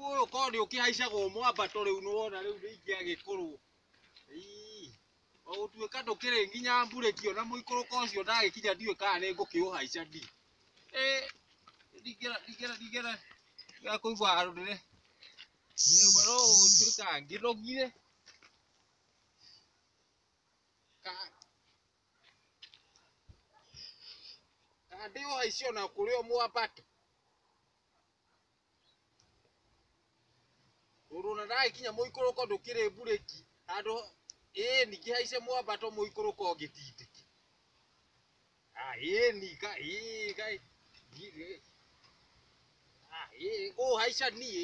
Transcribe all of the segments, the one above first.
Ũyũ korwo nĩ ũkĩhaicagwo mwambato rĩu nĩwona rĩu nĩ ingĩagĩkũrwo. Ii, o gũtuĩka ndũkĩrĩ nginya mburĩki ona mũikũrũko ũcio ndagĩkinya ndiũĩ kana nĩ ngũkĩũhaica ndi. Ĩ, ndingĩra ndingĩra ndingĩra ndingĩra kũigua handũ ndĩre. Rĩu no gũtuĩka ngĩnogire. Ka ka ndĩũhaice ona kũrĩ o mwambato. Tondũ ona ndagĩkinya mũikũrũko ndũkĩrĩ mburĩki handũ ĩĩ ningĩ haice mwambato mũikũrũko ngĩtindĩke. Ah, ĩĩ ni ka ĩĩ ka ah, ĩĩ ũũ haica niĩ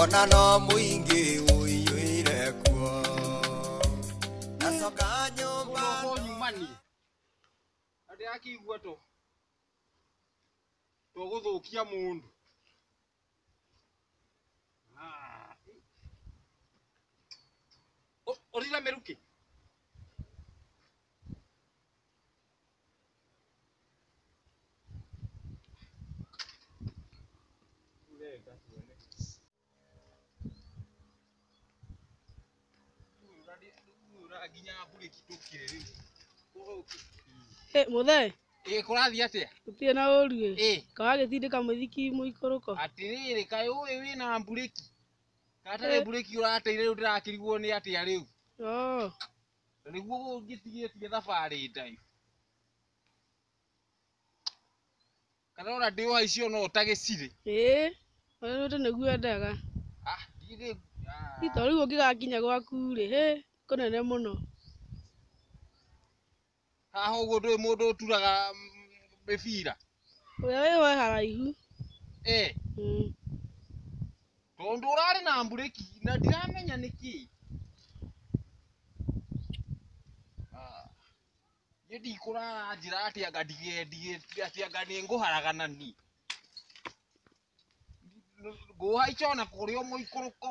ona no mũingĩ ũiyũire kuo nacoka nyũmba Roho nyumani andä akĩigua to to gå thå kia må ndå å rira mä rukä Ĩ, mũthee ĩĩ kũrathiĩ atĩa gũtirĩ na ũru ĩ ĩĩ kawagĩtindĩka mũithiki mũikũrũko atĩrĩrĩ kaĩ ũĩ wĩna mburĩki gatarĩ mburĩki ũrateire rĩu ndĩrakĩriguo nĩ atĩa rĩu Oo, Na nĩguo ũngĩtigĩtie thabarĩ ndaihu. Kana ona ndĩ o haici ona ũtagĩcirĩ. Ĩĩ, ũrĩa wĩte nĩguo endaga. Ah, ndiĩ ndĩ... ah. Ito rĩu ũngĩgakinya gwaku-rĩ, hĩ, kũnene mũno. Haha ũguo ndũĩ mũndũ ũturaga mĩbira? Ũrĩa wĩ ho e haraihu. Ee. Mm. Tondũ ũrarĩ na mburĩki na ndiramenya nĩkĩ. Ah. Niĩ ndikũrara njĩra atĩ anga ndigendige atĩ anga nĩ ngũharagana ni. Ngũhaica ona kũrĩa mũikũrũko.